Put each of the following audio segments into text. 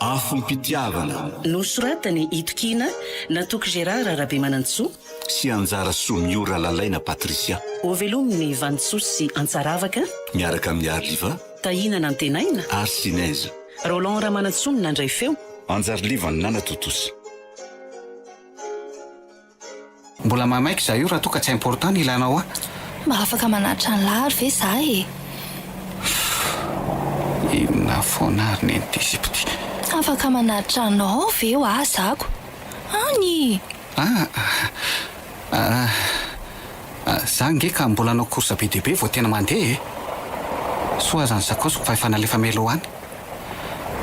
Afom-pitiavana. Nosoratan'i Itokiana, Natoky Gérard Rabemanantsoa. Sy Anjarasoa Miora Lalaina Patricia. Hovelomin'i Vanintsoa sy Antsaravaka. Miaraka amin'i Arliva. Tahina Nantenaina. Ary Sinèse. Roland Ramanantsoa no nandray feo. Anjariliva Nanatotosa. Mbola mahamaika za io raha toa ka tsy important ny ilanao ahy. Mba afaka manatitra an'lah ary ve za e? Fff inona foana ary neny ty sipa ty. Afaka manatitra anao ve hoa zako an i? Ah ah ah za ange ka mbola hanao course be dia be vao tena mandeha e. Soa aza ny sakaosiko fa efa nalefa Melo any.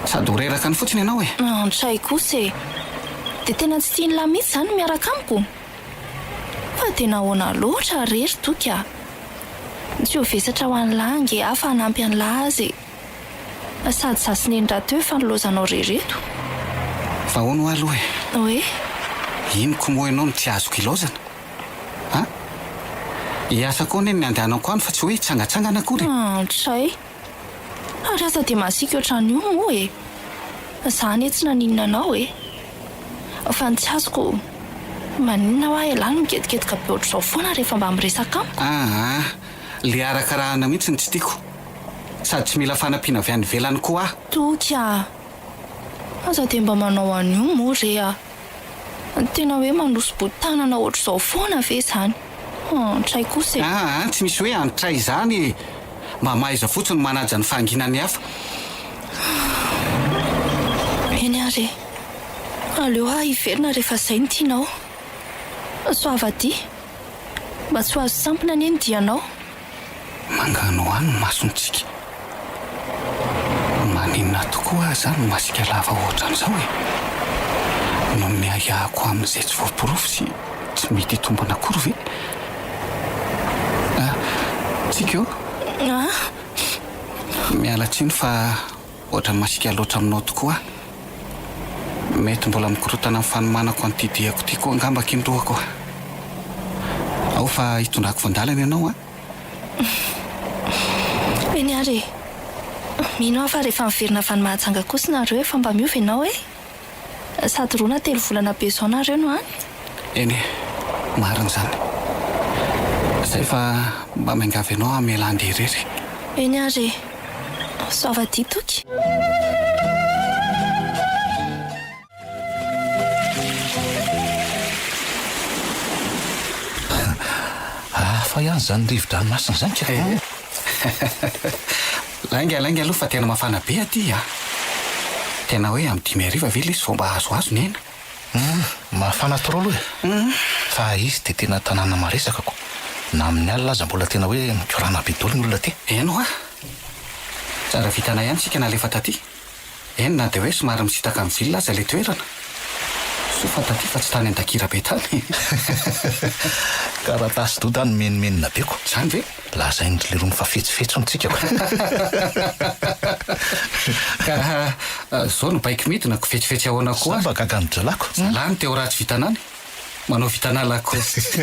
Sady ho reraka any fotsiny ianao e! An, tsy hay kosa e! Dia tena tsy tian'ilahy mihitsy izany ny miaraka amiko? Fa dia nahoana loatra àry ry toky a! Tsy ho vesatra ho an'ilahy ange aho fa hanampy an'ilahy azy e! Sady izaho sy neny rahateo efa nilaozanao re ireto! Fa ahoana hoa aloha e? Hoe? Inoko moa ianao no tsy azoko ilaozana? An? Hiasa koa anie ny andehanako any fa tsy hoe hitsangatsangana akory e! An, tsy hay! Ary aza dia masiaka ohatran io moa e! Za anie tsy naninona anao e! Fa ny tsy azoko, maninona hoa ialahy no migetiketaka be ohatr'izao foana rehefa mba miresaka amiko? Aa! Le arakarahana mihitsy no tsy tiako! Sady tsy mila fanampiana avy any ivelany koa aho! Toky a! Aza dia mba manao an'io moa re a! Tena hoe manosi-boan-tanana ohatr'izao foana ve izany? Antray kosa e! Aa, tsy misy hoe antray izany e! Mba mahaiza fotsiny ny manaja ny fahanginan'ny hafa. Eny ary e! Aleo aho hiverina rehefa izay no tianao. Soavadia! Mba tsy ho azo sampona anie ny dianao. Manganohano ny masontsika. Maninona tokoa aza no masika lava hoatran'izao e? Ny amin'ny ahiahiko amin'izay tsy voaporofo sy tsy mety hitombina akory ve? Ah, Tsiko! Ah! Miala tsiny fa Ohatra masika loatra aminao tokoa aho. Mety mbola mikorontana amin'ny fanomanako an'ity diako ity koa angamba aky ny lohako a! Ao fa hitondrako voandalana ianao a! Eny ary e! Mino aho fa rehefa miverina avy any Mahajanga kosa nareo efa mba miova ianao e! Sady roa na telo volana be zao nareo no any? Eny e, marina izany. Zay fa mba miangavy anao hamela andeha irery. Eny ary e. Soavadia toky. Hafa ihany izany rivo-dranomasina izany ka! Lainga lainga aloha fa tena mafana be aty a! Tena hoe amin'ny dimy hariva ve lesy vao mba azoazo ny aina? Humm, mafana trop aloha e! Humm. Fa izy dia tena tanàna maresaka ko! Na amin'ny alina aza mbola tena hoe mikorana be daholo ny olona aty! Eny hoa! Tsara vitana ihany tsika nalefa taty! Eny na dia hoe somary misintaka ny vilona aza ilay toerana. Soa fa taty fa tsy tany Andakirabe tany e! Taratasy doda no menomenona be ko. Izany ve? Lazain dry leroa fa fetsy fetsy ny tsika ko. Ka zao no baiko midina ko fetsy fetsy ahoana ko ary. Za mba gaga ny drala ko. Zalahy no te ho ratsy vitanany. Manao vitana lacoste.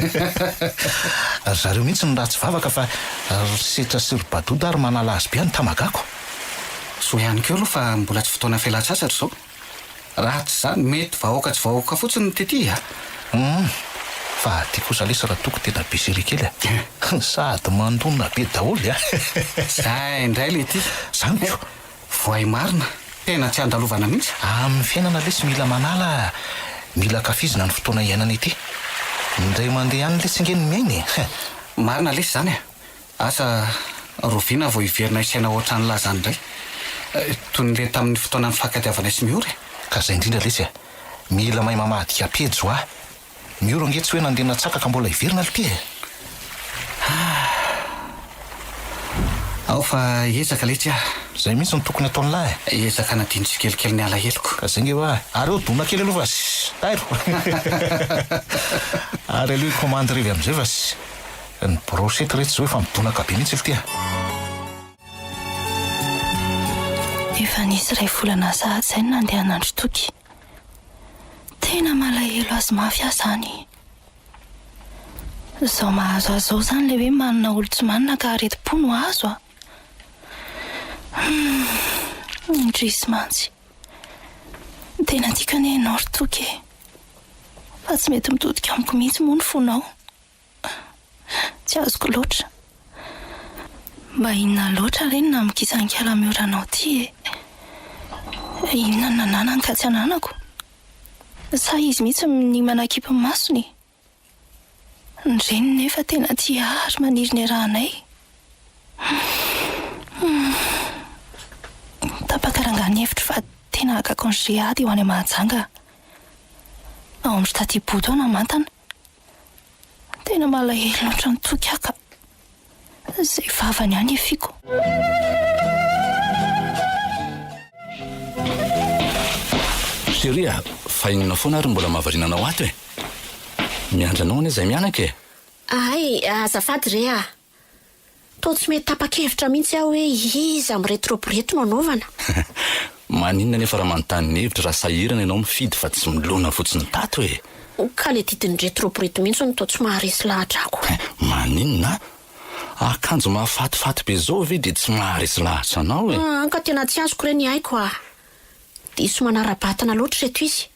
Ry zareo mihitsy no ratsy vavaka fa ry setra sy ry badoda ary manala azy be any tamagako. Zo ihany koa aloha fa mbola tsy fotoana fialan-tsasatra izao. Raha tsy izany mety vahoaka tsy vahoaka fotsiny no tetihy a! Humm! Fa aty kosa lesy raha toko tena be serie kely a! Sady mandona be daholo a! Zay indray le ity. Zany ko! Voay marina, tena tsy andalovana mihitsy. Amin'ny fiainana lesy mila manala a! Mila ankafizina ny fotoana iainana ity. Indray mandeha ihany lesy nge ny miaina e! He! Marina lesy izany a! Asa rovina vao hiverina hisaina ohatran'ny lazany indray. Toy ny le tamin'ny fotoana nifankatiavanay sy Miora e! Ka izay indrindra lesy a! Mila mahay mamadika pejy wa! Ny ora ange tsy hoe nandeha natsaka ka mbola hiverina lty e! Ahh. Ao fa ezaka letsy ah. Zay mihitsy no tokony ataony lahy e! Ezaka anadino tsikelikely ny alaheloko. Ka zay nge hoa. Ary eo dona kely aloha fa tairo! Ary aleo hikomandy revy amizay fa ny brochette re tsy zao efa midonaka be mihitsy lty ah! Efa nisy iray volana sahady izay no nandehanandro toky Tena malahelo azy mafy aho izany. Izao mahazo azy izao izany ilay hoe manina olo tsy manina ka aretim-po no azo a! Humm, indrisy mantsy. Tena tiako anie ianao ry Toky e! Fa tsy mety mitodika amiko mihitsy moa ny fonao. Tsy azoko loatra. Mba inona loatra re ny naminkisankala mihoranao ity e? Inona no nananany ka tsy ananako? Sa izy mihitsy minia manakipy ny masony e? Ny reniny nefa tena tia ahy ary maniry ny hirahanay. Humm. Tapaka rangahy ny hevitro fa tena haka congé ady ho any Mahajanga aho. Ao amin'i ry Tatibodo aho namantana. Tena malahelo loatra ny toky aho ka izay vavany ihany hiafiako. Chérie a, fa inona foana ary no mbola mahavariana anao ato e? Miandry anao anie izay mianaka e! Ahay, azafady re a! Toa tsy mety tapa-kevitra mihitsy aho hoe iza amin'ny retrobrety no anaovana. Maninona anefa raha manontany ny hevitra raha sahirana ianao mifidy fa tsy milona fotsiny tato e! Ka ilay didin'ny retrobrety mihitsy no toa tsy maharesy lahatra ko. Maninona? Akanjo mahafatifaty be izao ve dia tsy maharesy lahatra anao e? An ka tena tsy azoko re ny aiko ah! Diso manara-batana loatra ireto izy.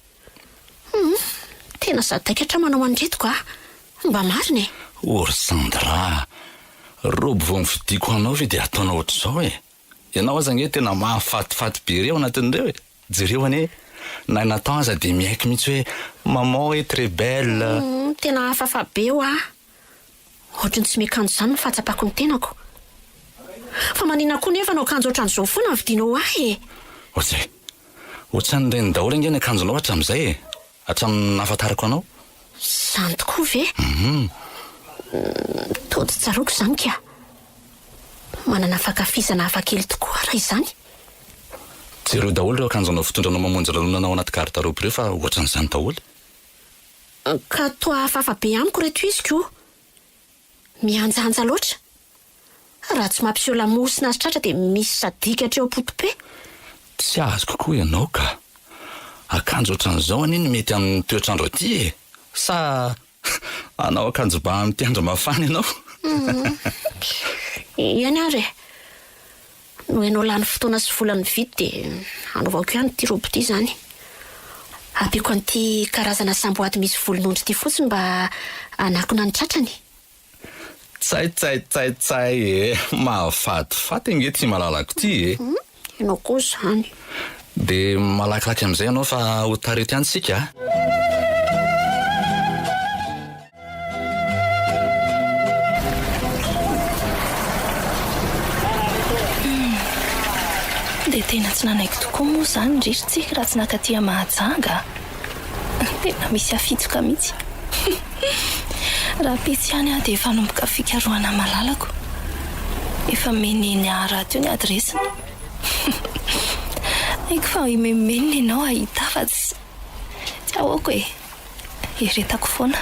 Humm, tena sadaikatra manao an'ireto ka! Mba marina e! Ory Sandra a! Robe vao novidiako ho anao ve dia ataonao ohatr'izao e! Ianao aza ange tena mahafatifaty be re ao anatin'ireo e! Jereo anie, na i Nathan aza dia miaiky mihitsy hoe maman est très belle! Humm, tena hafahafa be hoa! Ohatry ny tsy miakanjo izany ny fahatsapako ny tenako. Fa maninona koa nefa no akanjo ohatran'izao foana no vidianao ho ahy e? Ojay! Ohatran'ireny daholo ange ny akanjonao hatramin'izay e! Hatramin'ny nahafantarako anao. Izany tokoa ve? Hum! Toa tsy tsaroako izany kah! Manana fankafizana hafakely tokoa aho raha izany. Jereo daholo ireo akanjonao fitondranao mamonjy lanonana ao anaty garde-robe ireo fa ohatran'izany daholo. Ka toa hafahafa be amiko reto iziko o! Mihanjanja loatra! Raha tsy mampiseho lamosina azy tratra dia misy sadika hatreo am-potope! Tsy azoko koa ianao ka! Akanjo ohatran'izao anie no mety amin'ny toetr'andro aty e! Sa hanao akanjo bà amin'ity andro mafana ianao? Eny ary e! Noho ianao lany fotoana sy vola nividy dia hanaovako ihany ity robe ity izany. Ampiako an'ity karazana samboady misy volon'ondry ity fotsiny mba hanakona ny tratrany. Tsaitsaitsaitsay e! Mahafatifaty ange ity malalako ity e! Hum, ianao koa izany. Dia malakilaky amin'izay ianao fa ho taritin-tsika a! Dia tena tsy nanaiky tokoa moa izany ry Ritsy raha tsy nakatia Mahajanga a! Tena misy afitsoka mihitsy. Raha pitsy ihany aho dia efa hanomboka fikarohana malalako. Efa nomen'i Neniahy Rato io ny adiresiny. Haiko fa himenomenona ianao hahita aho fa tsy ahoako e! Eritako foana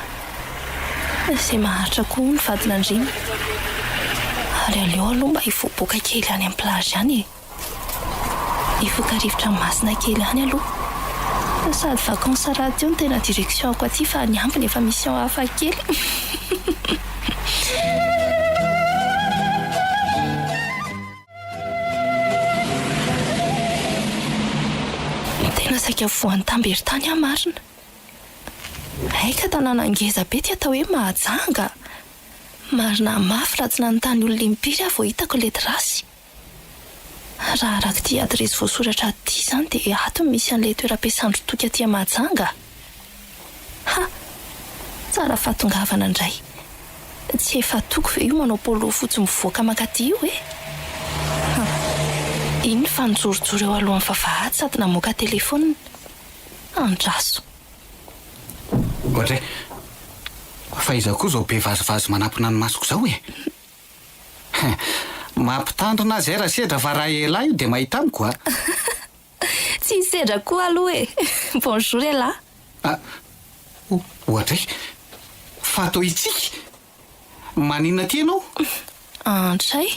izay maharitra koa ny vadin'andriana ary aleo aloha mba hivoaboaka kely any amin'ny plage any e! Hifoka rivotra masina kely any aloha. Sady vacances radio no tena direction-ko aty fa ny ambiny efa mission hafa kely. Tena saika voan'ny tamberin-tany aho marina. Hay ka tanàna ngeza be ty atao hoe Mahajanga. Marina mafy raha tsy nanontany olona impiry aho vao hitako ilay trace. Raha araka ity adiresy voasoratra ato ity izany dia ato no misy an'ilay toeram-piasan-dry Toky aty Mahajanga. Ha! Tsara fahatongavana indray. Tsy efa atoko ve io manao polo fotsy mivoaka mankaty io e? Ha! Iny fa nijorojoro eo alohan'ny vavahady sady namoaka telefaonina. Andraso. Ohatra e! Fa iza koa izao be vazivazy manapina ny masoko izao e? He! Mampitandrina azy aira sedra fa raha elah io dia mahita amiko a! Tsy hisedra koa aloha e! Bonjour elah! Ah! Oadray! Fa atao hitsiky? Maninona aty ianao? Antray!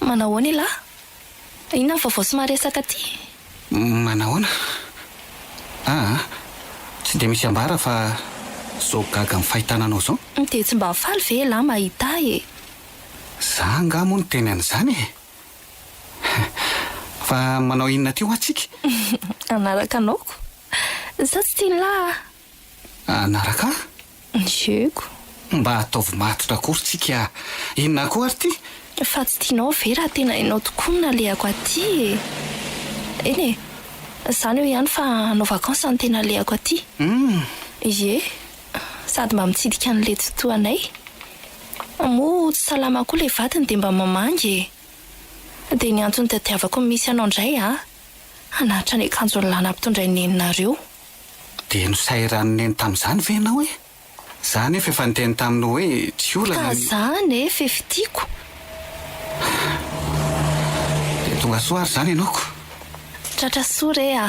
Manahoana elah? Inona ny vaovao sy maresaka aty? Manahoana? Aa! Tsy dia misy ambara fa zao gaga amin'ny fahitana anao zao. Dia tsy mba faly ve elah mahita ahy e? Za angaha moa no teny an'izany e! Fa manao inona aty hoa tsika? Hanaraka anao ko. Sa tsy tian'lah ah? Hanaraka ahy? Jeu ko. Mba ataovy matotra akory tsika ah! Inona koa ary ty? Fa tsy tianao ve raha tena hainao tokoa ny nalehako aty e? Eny e! Izany eo ihany fa hanao vacances ny tena alehako aty. Hum! Ie! sady mba mitsidika an'i letsy toa anay, moa tsy salama koa ilay vadiny dia mba mamangy e! dia ny antony tadiavako ny misy anao indray a! hanatitra ny akanjon'i la nampitondrain'i neninareo. Dia nosairan'i neny tamin'izany ve ianao e? za anefa efa niteny taminy hoe tsy olana ny. Ka za anefa efa tiako. Dia tonga soa ary izany ianao ko. Tratra soa re a!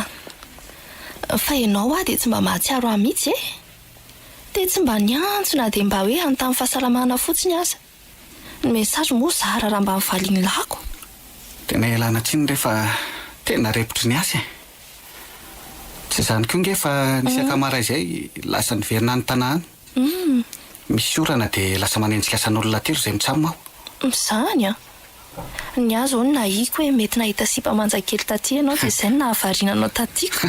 Fa ianao hoa dia tsy mba mahatsiaro ahy mihitsy e! Dia tsy mba niantso na dia mba hoe hanontany fahasalamana fotsiny aza. Ny message moa zara raha mba nivalian'i lako. Tena ialana tsiny re fa tena repotry ny asa e! Tsy izany koa nge fa nisy akamara izay lasa niverina any Tana any. Humm. Misy orana dia lasa manenjikasan'olona aty ry zay mitsam ao. Mizany an! Ny ahy izao no nahiako hoe mety nahita sipa manja kely taty ianao dia izay no nahavariana anao taty ka!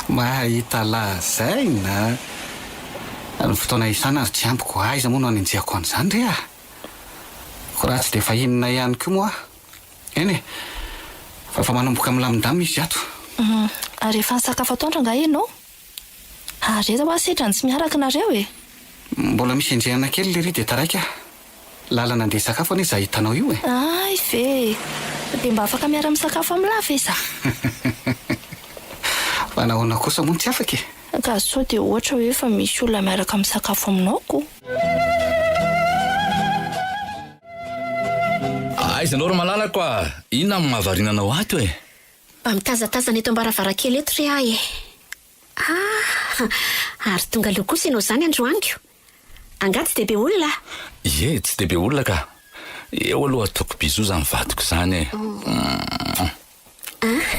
Mahahita lazaina a! Ny fotoana hiasana ary tsy ambiko, aiza moa no hanenjehako an'izany re ah! Koa raha tsy dia efa inona ihany koa moa aho! Eny e! Fa efa manomboka milamindamina izy ato. Humm. Ary efa nisakafo atoandro angaha ianao? Ary aiza hoa setra ny tsy miaraka nareo e! Mbola misy enjehana kely lery dia taraiky aho. Lalana andeha hisakafo anie za hitanao io e! Hay ve! Dia mba afaka miara misakafo am la ve za? Fa nahoana kosa moa no tsy afaka e! Ka sao dia ohatra hoe efa misy olona miaraka misakafo aminao ko! Aiza anao ry malalako a! Inona no mahavariana anao ato e! Mba mitazatazana eto am-baravarankely eto re aho e! Ah! Ary tonga leo kosa ianao izany androany ko! Angaha tsy dia be olona? Ie, tsy dia be olona ka! Eo aloha ataoko bisous izany vadiko izany e! Ah!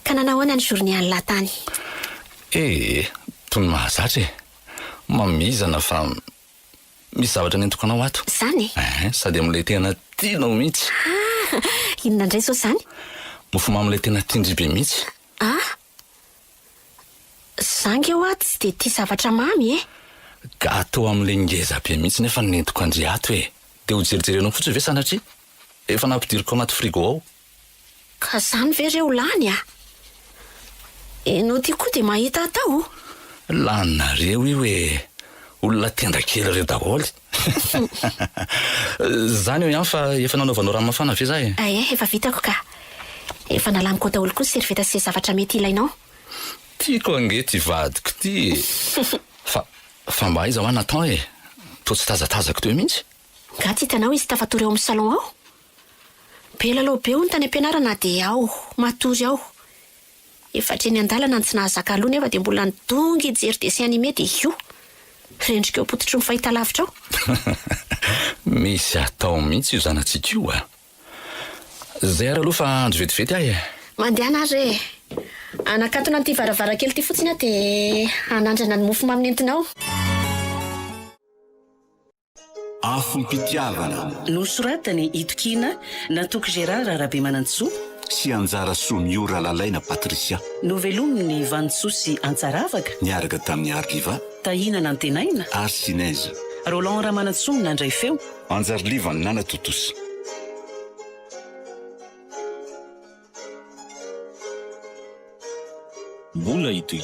Ka nanao ahoana ny journée any lahy tany? Ee, tony mahazatra e! Mamizana fa. Misy zavatra nentiko anao ato. Zany e? Ehe, sady amin'ilay tena tianao mihitsy. Ah! Inona indray izao izany? Mofomamy ilay tena tian-dry be mihitsy. Ah! Za nge hoa tsy dia tia zavatra mamy e! Gateau amin'ilay ngeza be mihitsy nefa nentiko an-dry ato e! Dia ho jerijery anao fotsiny ve sanatria? Efa nampidiriko anaty frigo ao. Ka zany ve reo lany a! Enao ty koa de mahita atao o! Laninareo io e! Olona tenda kely reo daholo! Zany hoy an fa efa nanaovanao rano mafana ve za e! Ae efa vitako ka! Efa nalaniko ao daholo koa servieta sy ze zavatra mety ilainao! Tiako ange ty vadiko ty e! Fa fa mba aiza hoa Nathan e! Toa tsy tazatazako teo mihitsy! Nga tsy hitanao izy tafatory ao amin'ny salon ao? Be lalao be hono tany am-pianarana dia ao, matory ao. Efa hatreny an-dalana ny tsy nahazaka aloha nefa dia mbola nidongy hijery dessin animé dia io! Rendrika eo am-pototry ny fahitalavitra ao. Misy atao mihitsy io zanatsika io a! Izay ary aloha fa andro vetivety ahy e! Mandehana ary re e! Hanakatona an'ity varavarankely ity fotsiny aho dia hanandrana ny mofomamy nentinao. Afom-pitiavana. Nosoratan'i Itokiana Natoky Gérard Rabemanantsoa. Sy Anjarasoa Mio Ralalaina Patricia. Novelomin'i Vanintsoa sy Antsaravaka. Niaraka tamin'i Arliva. Tahina Nantenaina. Ary Sinèse. Roland Ramanantsoa Nandray feo. Anjarliva Nanatontosa. Mbola ito i.